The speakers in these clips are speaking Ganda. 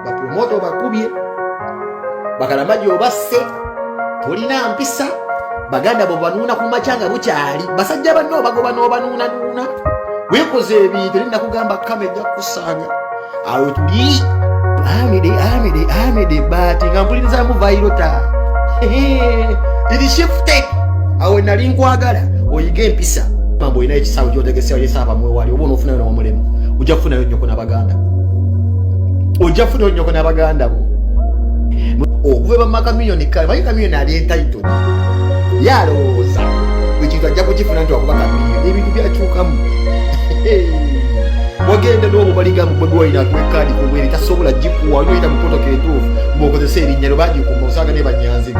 bapromoto bakubye bakalamaji obasse tolina mpisa baganda bo banuuna ku makya nga bukyali basajja banno obagoba n'obanuunanuuna wekoze ebintu eri nakugamba kama ejja kukusanga amede amede amede bati nga mpuliriza muvairota irishifte awe nali nkwagala oyige empisa mambo olina ekisawo kyotegesewo yesaaba mwewali oba onofunayo nomulimu ojja kufunayo nyoko nabaganda ojja kufunayo nyoko nabaganda bo okuva bamaka milioni kale manyi kamilioni ali entitled ye alowooza ekintu ajja kukifuna nti wakuba kamilioni ebintu byakyukamu wagenda n'obubaliga mu bobi wine akuwa ekaadi ku bwere tasobola gikuwa olina oyita mu protoko entuufu mwokozesa erinnya lyo bagikuma osanga ne banyanzi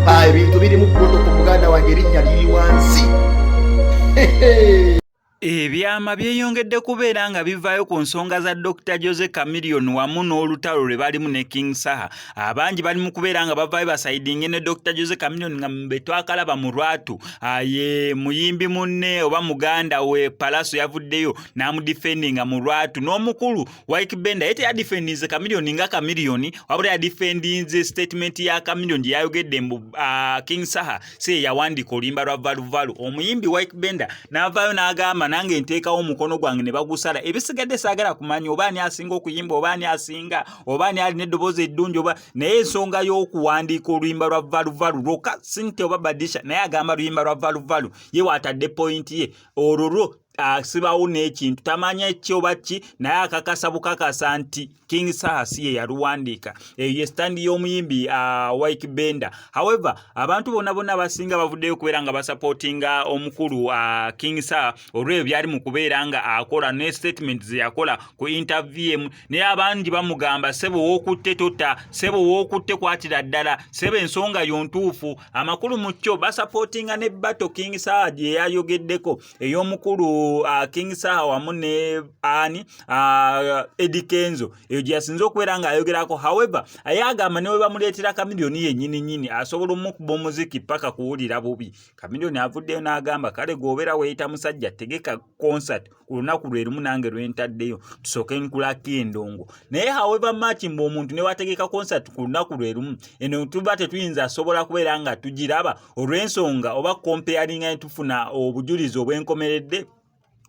ah, ebintu biri mu protoko muganda wange erinnya liri wansi Ebyama byeyongedde kubeera nga bivaayo ku nsonga za Dokita Jose Chameleone wamu n'olutalo lwe balimu ne King Saha abangi bali mu kubeera nga bavayo basaidinge ne dr jose caminion nga betwakalaba mu lwatu ah, ye muyimbi munne oba muganda we palaso yavuddeyo namudifendinga mu lwatu n'omukulu wik benda ye teyadifendinze caminion nga caminion wabula yadifendinze statement ya caminion gye yayogedde mbu ah, king saha si yeyawandiika oluyimba lwa valuvalu omuyimbi wik benda navayo n'agamba nange nteekawo omukono gwange ne bagusala ebisigadde saagala kumanya oba ani asinga okuyimba oba ani asinga oba ani alina eddoboozi eddungi oba naye ensonga y'okuwandiika oluyimba lwa valuvalu lwoka sinte oba badisha naye agamba luyimba lwa valuvalu ye waatadde pointi ye olwo lwo asibawo n'ekintu tamanya ki oba ki naye akakasa bukakasa nti king saha si ye yaluwandiika eyo ye sitandi y'omuyimbi uh, wik bender however abantu bona bona abasinga bavuddeyo okubeera nga basapootinga omukulu uh, king saha olw'ebyo byali mu kubeera nga akola ne statement ze yakola ku interview emu naye abangi bamugamba sebo wokutte tota sebo wokutte kwatira ddala sebo ensonga yo ntuufu amakulu mu kyo basapootinga ne bato king saha gye yayogeddeko ey'omukulu uh, king saha wamu ne ani uh, ah, edikenzo eyo gye yasinza okubeera ng'ayogerako however aye agamba newe bamuleetera kamiliyoni yennyini nyini asobola omukuba omuziki paka kuwulira bubi kamiliyoni avuddeyo n'agamba kale gweobeera weeyita musajja tegeka concert ku lunaku lwe lumu nange lwe ntaddeyo tusooke nkulako endongo naye however much mbu omuntu ne wategeka concert ku lunaku lwe lumu eno tuba tetuyinza asobola kubeera nga tugiraba olw'ensonga oba comparinga ne tufuna obujulizi obw'enkomeredde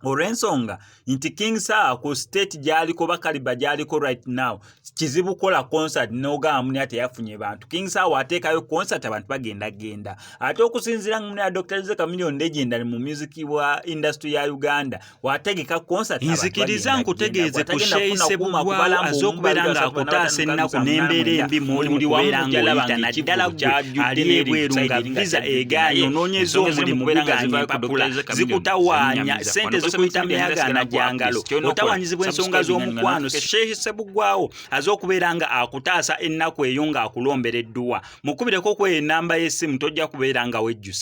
olw'ensonga nti king saa ku state gy'aliko bakaliba gy'aliko right now kizibu kukola concert n'ogamba muni ate yafunye bantu king sawa ateekayo concert abantu bagenda genda ate okusinziira nga muni ya dr ze chameleon legend ali mu music wa industry ya uganda wategeka concert nzikiriza nkutegeeze ku sheise bugwawo aze okubeera ng'akutaasa ennaku n'embeera embi mwoli mu kubeera ng'oyita naddala gwe ali ebweru nga visa egaanye onoonyeza omulimu gugaanye empapula zikutawaanya sente zikuyita myagaana gya ngalo otawanyizibwa ensonga z'omukwano shehe Sebuggwawo aze okubeera nga akutaasa ennaku eyo ng'akulombera edduwa. Mukubireko ku eyo ennamba y'essimu tojja kubeera nga wejjusa.